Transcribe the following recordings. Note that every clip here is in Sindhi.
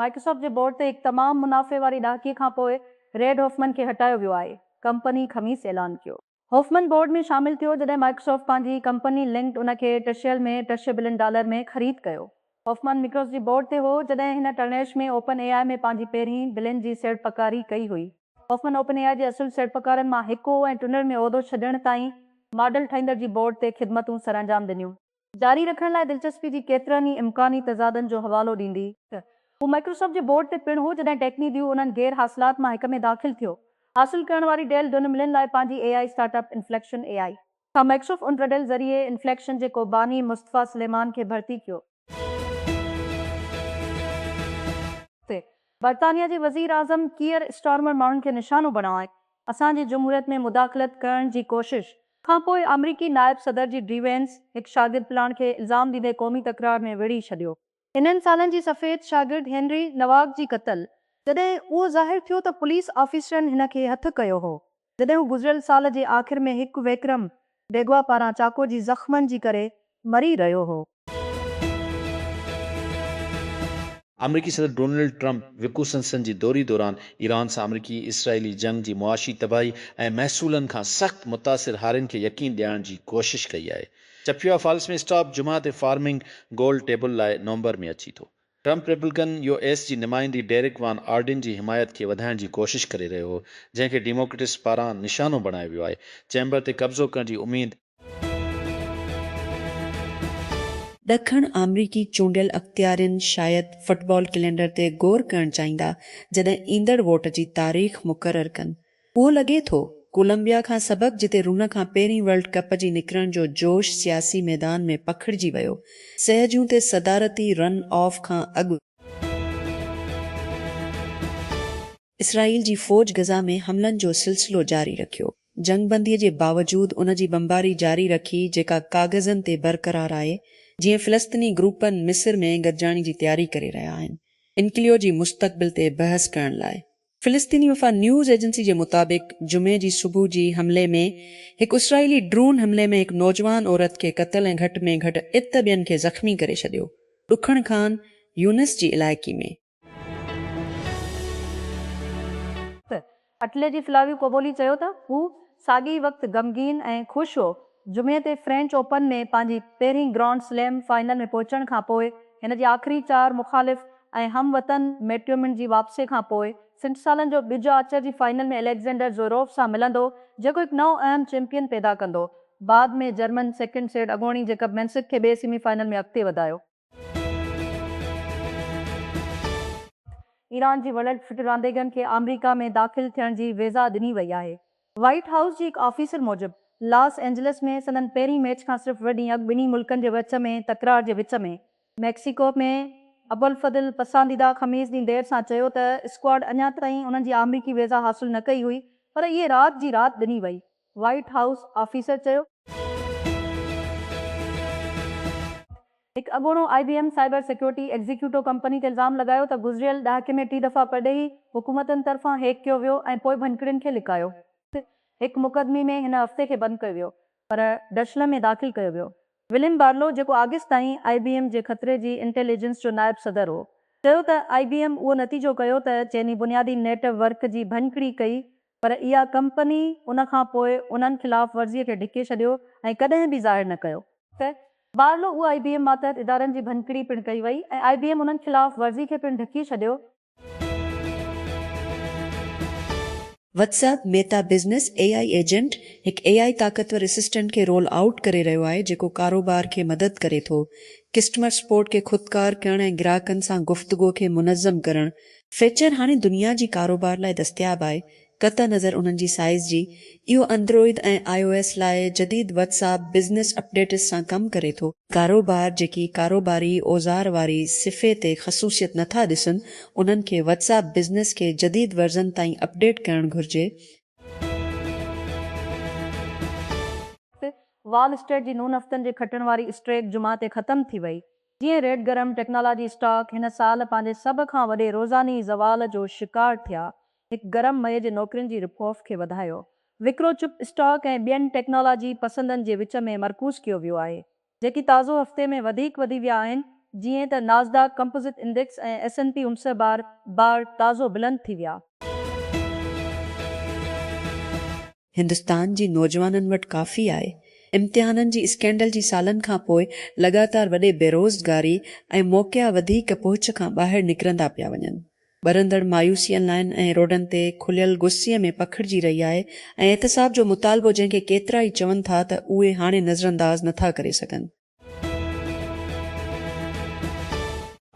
مائڪروسافٽ جي بورڊ تي هڪ تمام منافعي واري ڏهاڪي کانپوء ريڊ هوفمن کي هٽايو ويو آهي، ڪمپني خميس اعلان ڪيو. هوفمن بورڊ ۾ شامل ٿيو جڏهن مائڪروسافٽ پنهنجي ڪمپني لنڪڊ ان کي ٽي سيل ۾ ٽي سي بلين ڊالر ۾ خريد ڪيو. هوفمان مڪروس جي بورڊ تي هو جڏهن هن ٽرنيش ۾ اوپن اي آء ۾ پنهنجي پهرين بلين جي سيڙپڪاري ڪئي هئي. هوفمان اوپن اي آء جي اصل سيڙپڪارن مان هڪ هو ۽ ٽونر ۾ عهدو ڇڏڻ تائين ماڊل ٺاهيندڙ جي بورڊ تي خدمتون سرانجام ڏنيون. جاري رکڻ لاء دلچسپي جي ڪيترن ئي امڪاني تضادن جو حوالو ڏيندي ته هو مائڪروسافٽ جي بورڊ تي پڻ هو جڏهن ٽيڪني ديو انهن غير حاصلات مان هڪ ۾ داخل ٿيو. حاصل ڪرڻ واري ڊيل ڊنملن لاء پنهنجي A I startup inflection A I کان مئڪشف ان رڊل ذريعي انفليڪشن جي ڪوباني مصطفيٰ سليمان کي ڀرتي ڪيو. تي برطانيا جي وزير اعظم ڪيئر اسٽارمر ماڻهن کي نشانو بڻائي اسان جي جمهوريت ۾ مداخلت ڪرڻ جي ڪوشش. کان پوء آمريڪي نائب صدر جي ڊي وينس هڪ شاگرد پلاڻ کي الزام ڏيندي قومي تڪرار ۾ ويڙهي ڇڏيو. انهن سالن جي سفيد شاگرد هينري نواڪ جي قتل جڏهن اهو ظاهر ٿيو ته پوليس آفيسرن هن کي هٿ ڪيو هو جڏهن هو گذريل سال جي آخر ۾ هڪ وڪرم ڊيگوا پاران چاقو جي زخمن جي ڪري مري رهيو هو. آمريڪي صدر ڊونلڊ ٽرمپ وڪوسنسن جي دوري دوران ايران سان آمريڪي اسرائيلي جنگ جي معاشي تباهي ۽ محصولن کان سخت متاثر هارين کي يقين ڏيارڻ جي ڪوشش ڪئي آهي. چپيا فالس ۾ اسٽاپ جمعه تي فارمنگ گول ٽيبل لاء نومبر ۾ اچي ٿو. ٽرمپ ريپبلڪن يو ايس جي نمائندي ڊيرڪ وان آرڊين جي حمايت کي وڌائڻ جي ڪوشش ڪري رهيو هو جنهن کي ڊيموڪريٽس پاران نشانو بڻايو ويو آهي چيمبر تي قبضو ڪرڻ جي اميد ڏکڻ آمريڪي چونڊيل اختيارين شايد فٽبال ڪلينڊر تي غور ڪرڻ چاهيندا جڏهن ايندڙ ووٽ جي تاريخ مقرر ڪن. اهو لڳي ٿو ڪولمبيا کان سبب جتي رن کان پهرين ورلڊ ڪپ جي نڪرڻ جو جوش سياسي ميدان ۾ پکڙجي ويو، سهجون تي صدارتي رن آف کان اڳ، اسرائيل جي فوج غزه ۾ حملن جو سلسلو جاري رکيو، جنگ بندي جي باوجود ان جي بمباري جاري رکي جيڪا ڪاغذن تي برقرار آهي، جيئن فلسطني گروپن مصر ۾ گڏجاڻي جي تياري ڪري رهيا آهن، انڪليو جي مستقبل تي بحث ڪرڻ لاء فلسطيني وفا نيوز ايجنسي جي مطابق جمعي جي صبح جي حملي ۾ هڪ اسرائيلي ڊرون حملي ۾ هڪ نوجوان عورت کي قتل ۽ گهٽ ۾ گهٽ ات ٻين کي زخمي ڪري ڇڏيو ڏکڻ خان يونس جي علائقي ۾. اٽلي جي فلاويو ڪوبولي چيو ته هو ساڳئي وقت غمگين ۽ خوش هو. جمعي تي فرينچ اوپن ۾ پنهنجي پهرين گرانڊ سليم فائنل ۾ پهچڻ کان پوء هن جي آخري چار مخالف ۽ هم وطن ميٽيومن جي واپسي کان پوء سٺ سالن جو ٻج آچر جي فائنل ۾ اليگزينڊر زوروف سان ملندو جيڪو هڪ نئون اهم چيمپيئن پيدا ڪندو. بعد ۾ جرمن سيڪنڊ سيڊ اڳوڻي جيڪب مينسڪ کي ٻئي سيمي فائنل ۾ اڳتي وڌايو. ايران جي وڏن ڦٽ رانديگرن کي آمريڪا ۾ داخل ٿيڻ جي ويزا ڏني وئي آهي. وائيٽ هائوس جي هڪ آفيسر موجب لاس اينجلس ۾ سندن پهرين ميچ کان صرف ٻه ڏينهن اڳ ٻنهي ملڪن جي وچ ۾ تڪرار جي وچ ۾ ميڪسيڪو ۾ ابوالفضل پسنديده خميس ڏينهن دير سان چيو ته اسڪواڊ اڃا تائين انهن جي آمريڪي ويزا حاصل نه ڪئي هئي پر اهي رات جي رات ڏني وئي. وائيٽ هائوس آفيسر چيو. هڪ اڳوڻو I B M cyber security executive company تي الزام لڳايو ته گذريل ڏهاڪي ۾ ٽي دفعا پرڏيهي حڪومتن طرفان هيڪ ڪيو ويو ۽ پوء ڀڃڪڙين کي لڪايو. هڪ مقدمي ۾ هن هفتي کي بند ڪيو ويو پر ڊشلم ۾ داخل ڪيو ويو. وليم بارلو جيڪو آگسٽ تائين آء بي ايم جي خطري جي انٽيل ايجنس جو نائب صدر هو چيو ته آء بي ايم اهو نتيجو ڪيو ته چيني بنيادي نيٽ ورڪ جي ڀڃڪڙي ڪئي پر اها ڪمپني ان کان پوء انهن خلاف ورزي کي ڍڪي ڇڏيو ۽ ڪڏهن به ظاهر نه ڪيو. ته بارلو اهو آئي بي ايم ماتحت ادارن جي ڀڃڪڙي پڻ ڪئي وئي ۽ آئي بي ايم انهن خلاف ورزي کي پڻ ڍڪي ڇڏيو. WhatsApp Meta business A I agent هڪ اي آئي طاقتور اسسٽنٽ کي رول آئوٽ ڪري رهيو آهي جيڪو ڪاروبار کي مدد ڪري ٿو ڪسٽمر سپورٽ کي خودڪار ڪرڻ ۽ گراهڪن سان گفتگو کي منظم ڪرڻ فيچر هاڻي دنيا جي ڪاروبار لاء دستياب آهي، قطع نظر انهن جي سائيز جي، اهو اندروئيد ۽ آء او ايس لاء جديد واٽس اپ بزنس اپڊيٽس سان ڪم ڪري ٿو. ڪاروبار جيڪي ڪاروباري اوزار واري صفحي تي خصوصيت نٿا ڏسن، انهن کي واٽس اپ بزنس کي جديد ورزن تائين اپڊيٽ ڪرڻ گهرجي. وال اسٽريٽ جي نون هفتن جي کٽڻ واري اسٽريڪ جمعه تي ختم ٿي وئي، جيئن ريڊ گرم ٽيڪنالاجي اسٽاڪ هن سال پنهنجي سڀ کان وڏي روزاني زوال جو شڪار ٿيا، هڪ گرم مئي جي نوڪرين جي رپ آف کي وڌايو. وڪرو چپ اسٽاڪ ۽ ٻين ٽيڪنالاجي پسندن جي وچ ۾ مرڪوز ڪيو ويو آهي، جيڪي تازو هفتي ۾ وڌيڪ وڌي ويا آهن، جيئن ته Nasdaq composite index ۽ S and P امسئه بار بار تازو بلند ٿي ويا. هندستان جي نوجوانن وٽ ڪافي آهي. امتحانن جي اسڪينڊل جي سالن کان پوء لڳاتار وڏي بيروزگاري ۽ موقعا وڌيڪ پهچ کان ٻاهر نڪرندا پيا وڃن. ٻرندڙ مايوسي ان لائن ۽ روڊن تي کليل غصي ۾ پکڙجي رهي آهي ۽ احتساب جو مطالبو جنهن کي ڪيترائي چون ٿا ته اهي هاڻي نظرانداز نٿا ڪري سگهن.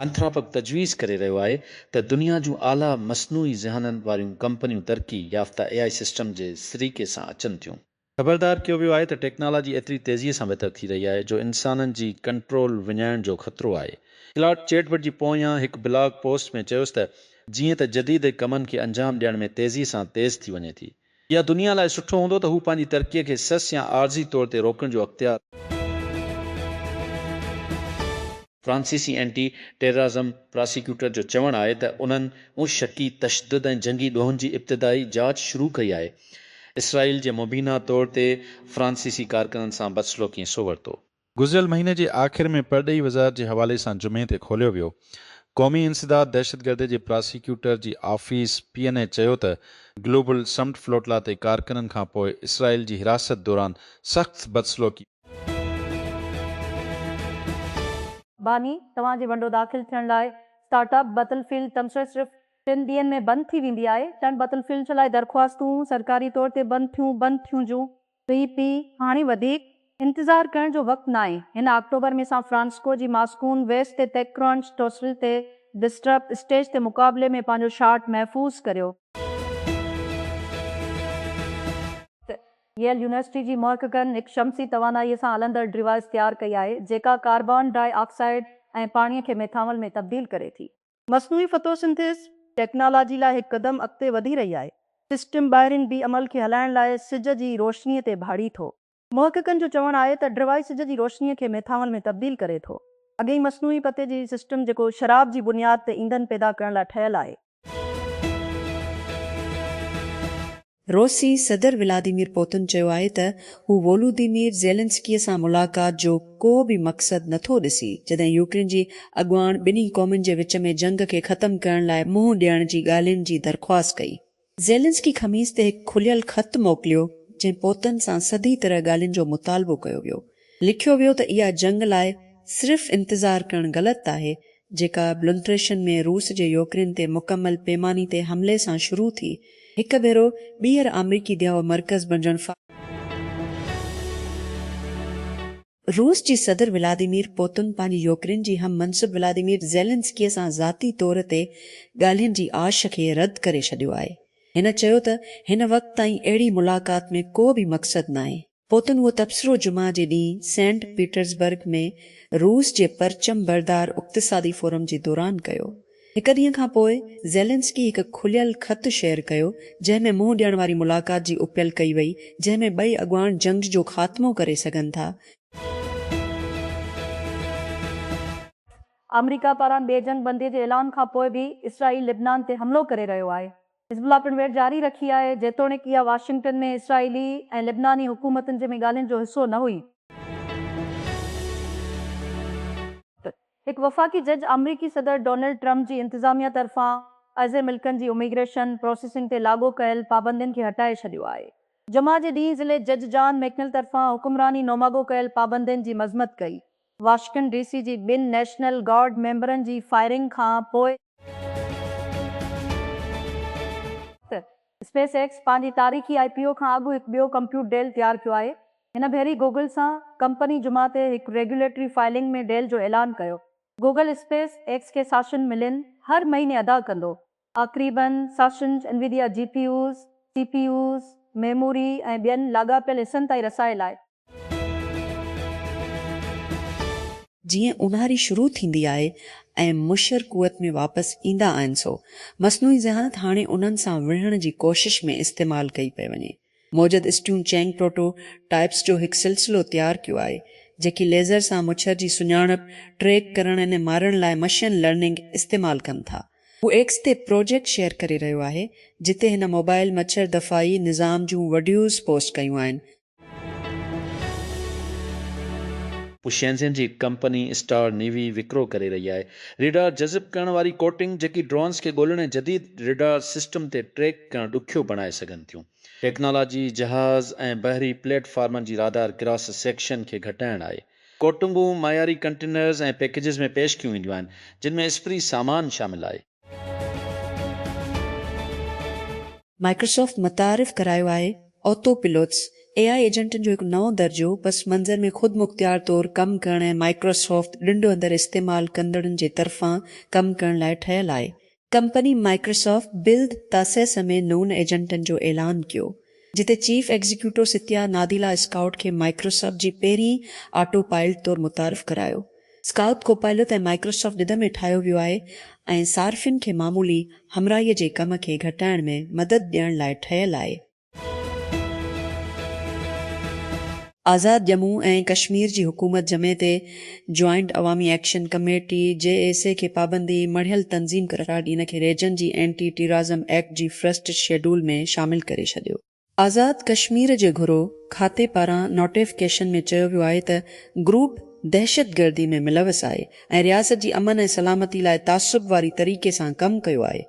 انٿراپڪ تجويز ڪري رهيو آهي ته دنيا جون اعليٰ مصنوعي ذهانن واريون ڪمپنيون ترقي يافته اي آء سسٽم جي سريڪي سان اچن ٿيون. خبردار ڪيو ويو آهي ته ٽيڪنالاجي ايتري تيزيء سان بهتر ٿي رهي آهي جو انسانن جي ڪنٽرول وڃائڻ جو خطرو آهي. ڪلاڊ چيٽ بٽ جي پويان هڪ بلاگ پوسٽ ۾ چيس ته جيئن ته جديد ڪمن کي انجام ڏيڻ ۾ تيزيء سان تيز ٿي وڃي ٿي، يا دنيا لاء سٺو هوندو ته هو پنهنجي ترقيء کي سس يا عارضي طور تي روڪڻ جو اختيار. فرانسيسي اينٽي ٽيررازم پراسيڪيوٽر جو چوڻ آهي ته انهن ان شڪي تشدد ۽ جنگي ڏوهن جي ابتدائي جاچ شروع ڪئي آهي اسرائيل جي مبينا طور تي فرانسيسي ڪارڪنن سان بدسلوڪيء سو ورتو. گذريل مهيني جي آخر ۾ پرڏيهي وزارت جي حوالي سان جمعي تي کوليو ويو قومي انسداد دهشتگردي جي پراسيڪيوٽر جي آفيس پي اين اي چيو ته گلوبل سمٽ فلوٽلا تي ڪارڪنن کان پوء اسرائيل جي حراست دوران سخت بدسلوڪي باني، توهان جي ونڊو داخل ٿيڻ لاء اسٽارٽ اپ بتل فيلڊ تبصري صرف ٽن ڏينهن ۾ بند ٿي ويندي آهي ٽن بتل فيلڊ لاء درخواستون سرڪاري طور تي بند ٿيون بند ٿيون جون پي پي، هاڻي وڌيڪ انتظار ڪرڻ جو وقت ناهي، هن آڪٽوبر ۾ سان فرانسسڪو جي ماسڪون ويسٽ تي تيڪرون سٽوسل تي ڊسٽرپ اسٽيج تي مقابلي ۾ پنهنجو شاٽ محفوظ ڪريو. ته ييل يونيورسٽي جي محققن هڪ شمسي توانائيء سان هلندڙ ڊوائيس تيار ڪئي آهي، جيڪا ڪاربان ڊاء آڪسائيڊ ۽ پاڻيء کي ميٿانول ۾ تبديل ڪري ٿي. مصنوعي فتو سنٿيز ٽيڪنالاجي لاء هڪ قدم اڳتي وڌي رهي آهي. سسٽم ٻاهرين بي عمل کي هلائڻ لاء سج جي روشني تي ڀاڙي ٿو. محققن جو چوڻ آهي ته ڊرواء سج جي روشني کي ميٿانول ۾ تبديل ڪري ٿو. اڳئين مصنوعي پتي جي سسٽم جيڪو شراب جي بنياد تي ايندھن پيدا ڪرڻ لاء ٺهيل آهي. روسي صدر ولاديمير پوتن چيو آهي ته هو وولوديمير زيلنسڪيء سان ملاقات جو ڪو به مقصد نٿو ڏسي، جڏهن يوڪرين جي اڳواڻ ٻنهي قومن جي وچ ۾ جنگ کي ختم ڪرڻ لاء منهن ڏيڻ جي ڳالهين جي درخواست ڪئي. زيلنسڪي خميس تي هڪ کليل خط موڪليو، جنهن پوتن سان سڌي طرح ڳالهين جو مطالبو ڪيو ويو. لکيو ويو ته اها جنگ لاء صرف انتظار ڪرڻ غلط آهي، جيڪا بلونٽريشن ۾ روس جي يوڪرين تي مڪمل پيماني تي حملي سان شروع ٿي هڪ ڀيرو ٻيهر آمريڪي ديهو مرڪز بڻجڻ فا. روس جي صدر ولاديمير پوتن پنهنجي يوڪرين جي هم منصب ولاديمير زيلنسڪي سان ذاتي طور تي ڳالهين جي آش کي رد ڪري ڇڏيو آهي هن چيو ته هن وقت تائين اهڙي ملاقات ۾ ڪو به مقصد ناهي پوء تون اهو تبصرو جمعه جي ڏينهن سينٽ پيٽرزبرگ ۾ روس جي پرچم بردار اقتصادي فورم جي دوران ڪيو. هڪ ڏينهن کان پوء زيلنسڪي هڪ کليل خط شيئر ڪيو، جنهن ۾ منهن ڏيڻ واري ملاقات جي اپيل ڪئي وئي، جنهن ۾ ٻئي اڳواڻ جنگ جو خاتمو ڪري سگهن ٿا. آمريڪا پاران ٻي جنگ بندي جي اعلان کان پوء به اسرائيل لبنان تي حملو ڪري رهيو آهي. حزب الله پڻ ويڙهه جاري رکي آهي، جيتوڻيڪ اها واشنگٽن ۾ اسرائيلي ۽ لبناني حڪومتن جي ۾ ڳالهين جو حصو نه هئي. هڪ وفاقي جج آمريڪي صدر ڊونلڊ ٽرمپ جي انتظاميه طرفان ازين ملڪن جي اميگريشن پروسيسنگ تي لاڳو ڪيل پابندين کي هٽائي ڇڏيو آهي. جمعه جي ڏينهن ضلعي جج جان ميڪنل طرفان حڪمراني نوماڳو ڪيل پابندين جي مذمت ڪئي. واشنگٽن ڊي سي جي ٻن نيشنل گارڊ ميمبرن جي فائرنگ کان پوء، اسپيس ايڪس پنهنجي تاريخي آء پي او کان اڳ هڪ ٻيو ڪمپيوٽ ڊيل تيار ڪيو آهي. هن ڀيري گوگل سان ڪمپني جمعه تي هڪ ريگيوليٽري فائلنگ ۾ ڊيل جو اعلان ڪيو. گوگل اسپيس ايڪس کي ساشن ملين هر مهيني ادا ڪندو. آخريباً ساشنز Nvidia GPUs, CPUs, memory ۽ ٻين لاڳاپيل حصن تائين رسائي لاء جيئن اونهاري شروع ٿيندي آهي ۽ مشر قوت ۾ واپس ايندا آهن سو مصنوعي ذهانت هاڻي انهن سان وڙهڻ جي ڪوشش ۾ استعمال ڪئي پئي وڃي. موجد اسٽيون چينگ پروٽو ٽائيپس جو هڪ سلسلو تيار ڪيو آهي جيڪي ليزر سان مڇر جي سڃاڻپ، ٽريڪ ڪرڻ ۽ مارڻ لاء مشين لرننگ استعمال ڪن ٿا. هو ايڪس تي پروجيڪٽ شيئر ڪري رهيو آهي جتي هن موبائل مڇر دفاعي نظام جون وڊيوز پوسٽ ڪيون آهن. هو شينزين جي ڪمپني اسٽار نيوي وڪرو ڪري رهي آهي. ريڊار جذب ڪرڻ واري ڪوٽنگ، جيڪي ڊرونز کي ڳولڻ ۽ جديد ريڊار سسٽم تي ٽريڪ ڪرڻ ڏکيو بڻائي سگهن ٿيون. ٽيڪنالاجي جهاز ۽ بحري پليٽ فارمن جي رادار ڪراس سيڪشن کي گهٽائڻ آهي. ڪوٽنگون معياري ڪنٽينرز ۽ پيڪيجز ۾ پيش ڪيون وينديون آهن، جن ۾ اسپري سامان شامل آهي. مائڪروسافٽ متعارف ڪرايو آهي آتو پيلوٽس، اي آء ايجنٽن جو هڪ نئون درجو، پس منظر ۾ خود مختيار طور ڪم ڪرڻ ۽ مائڪروسافٽ ڏنڊ اندر استعمال ڪندڙن جي طرفان ڪم ڪرڻ لاء ٺهيل آهي. ڪمپني مائڪروسافٽ بلد تاسيس ۾ نون ايجنٽن جو اعلان ڪيو جتي chief executive Satya Nadella scout کي مائڪروسافٽ جي پهرين آٽو پائلٽ طور متعارف ڪرايو. اسڪائوٽ ڪوپائلوت ۽ مائڪروسافٽ ڏڌ ۾ ٺاهيو ويو آهي ۽ صارفين کي معمولي همراهي جي ڪم کي گهٽائڻ ۾ مدد ڏيڻ لاء ٺهيل آهي. آزاد ڄمون ۽ ڪشمير جي حڪومت جمعي تي جوائنٽ عوامي action committee, J A C, کي پابندي مڙهيل تنظيم قرار ڏئي ان کي ريجن جي اينٽي ٽيرازم ايڪٽ جي فرسٽ شيڊول ۾ شامل ڪري ڇڏيو. آزاد ڪشمير جي گهرو کاتي پاران نوٽيفڪيشن ۾ چيو ويو آهي ته گروپ دهشتگردي ۾ ملوث آهي ۽ رياست جي امن ۽ سلامتي لاء تعصب واري طريقي سان ڪم ڪيو آهي.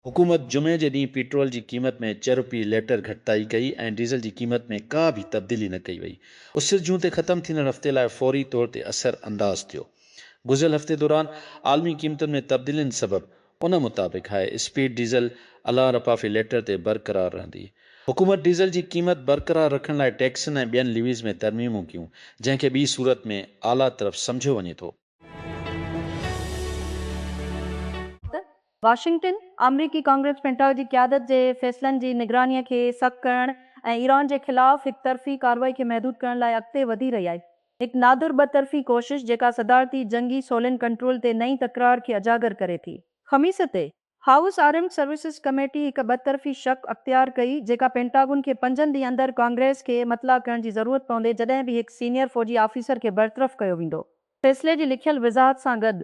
حڪومت جمعي جي ڏينهن پيٽرول جي قيمت ۾ چه روپيه ليٽر گهٽتائي ڪئي ۽ ڊيزل جي قيمت ۾ ڪا به تبديلي نه ڪئي وئي. اسر جون تي ختم ٿيندڙ هفتي لاء فوري طور تي اثر انداز ٿيو. گذريل هفتي دوران عالمي قيمتن ۾ تبديلين سبب ان مطابق هاء اسپيڊ ڊيزل الان رپا في ليٽر تي برقرار رهندي. حڪومت ڊيزل جي قيمت برقرار رکڻ لاء ٽيڪسن ۽ ٻين ليويز ۾ ترميمون ڪيون، جنهن کي ٻي صورت ۾ اعليٰ طرف سمجهيو وڃي ٿو. واشنگٽن، آمريڪي ڪانگريس پينٽاگ جي قيادت جي فيصلن جي نگرانيء کي سخت ڪرڻ ۽ ايران جي خلاف هڪ طرفي ڪارروائي کي محدود ڪرڻ لاء اڳتي وڌي رهي آهي. هڪ نادر ٻه طرفي ڪوشش جيڪا صدارتي جنگي سولين ڪنٽرول تي نئين تڪرار کي اجاگر ڪري ٿي. خميس تي، هائوس آرمڊ سروسز ڪميٽي هڪ ٻطرفي شق اختيار ڪئي جيڪا پينٽاگون کي پنجن ڏينهن اندر ڪانگريس کي مطلع ڪرڻ جي ضرورت پوندي جڏهن به هڪ سينيئر فوجي آفيسر کي برطرف ڪيو ويندو فيصلي جي لکيل وضاحت سان گڏ.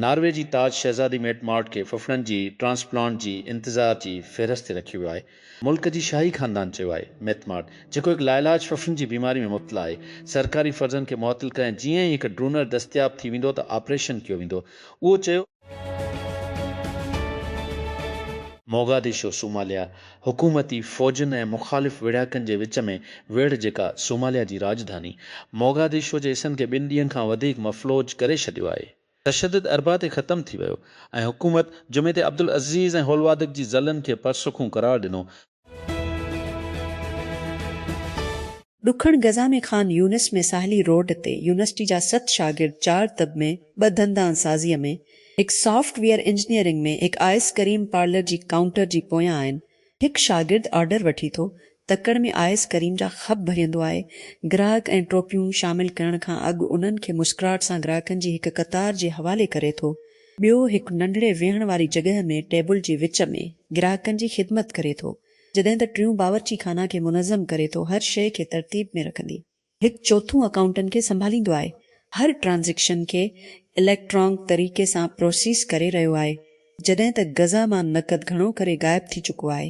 ناروي جي تاج شهزادي ميٽ مارٽ کي ڦڦڙن جي ٽرانسپلانٽ جي انتظار جي فهرست تي رکيو ويو آهي. ملڪ جي شاهي خاندان چيو آهي ميٿ مارٽ جيڪو هڪ لاعلاج ڦڦن جي بيماري ۾ مبتلا آهي سرڪاري فرضن کي معطل ڪري ۽ جيئن ئي هڪ ڊونر دستياب ٿي ويندو ته آپريشن ڪيو ويندو اهو چيو موگاديشو، صوماليا، حڪومتي فوجن ۽ مخالف ويڙهاڪن جي وچ ۾ ويڙهه جيڪا صوماليا جي راڄڌاني موگاديشو جي حصن کي ٻن ڏينهن کان وڌيڪ مفلوج ڪري ڇڏيو آهي. تشدد اربع تي ختم ٿي ويو ۽ حڪومت جمعي تي عبدالعزيز ۽ هولوادڪ جي ضلعن کي پرسکون قرار ڏنو. ڏکڻ غزه ۾ خان يونس ۾ ساحلي روڊ تي يونيورسٽي جا ست شاگرد چار طب ۾ ٻه دندان سازيء ۾ هڪ سافٽ ويئر انجنيئرنگ ۾ هڪ آئس ڪريم پارلر جي ڪائونٽر جي پويان آهن هڪ شاگرد آرڊر وٺي ٿو، تڪڙ ۾ آيس ڪريم جا خپ ڀريندو آهي، گراهڪ ۽ ٽوپيون شامل ڪرڻ کان اڳ انهن کي مسڪراهٽ سان گراهڪن جي هڪ قطار جي حوالي ڪري ٿو، ٻيو هڪ ننڍڙي ويهڻ واري جڳهه ۾ ٽيبل جي وچ ۾ گراهڪن جي خدمت ڪري ٿو، جڏهن ته ٽيون باورچي خانه کي منظم ڪري ٿو، هر شيء کي ترتيب ۾ رکندي. هڪ چوٿون اڪائونٽن کي سنڀاليندو آهي هر ٽرانزيڪشن کي اليڪٽرانڪ طريقي سان پروسيس ڪري رهيو آهي جڏهن ته غزه مان نقد گهڻو ڪري غائب ٿي چڪو آهي.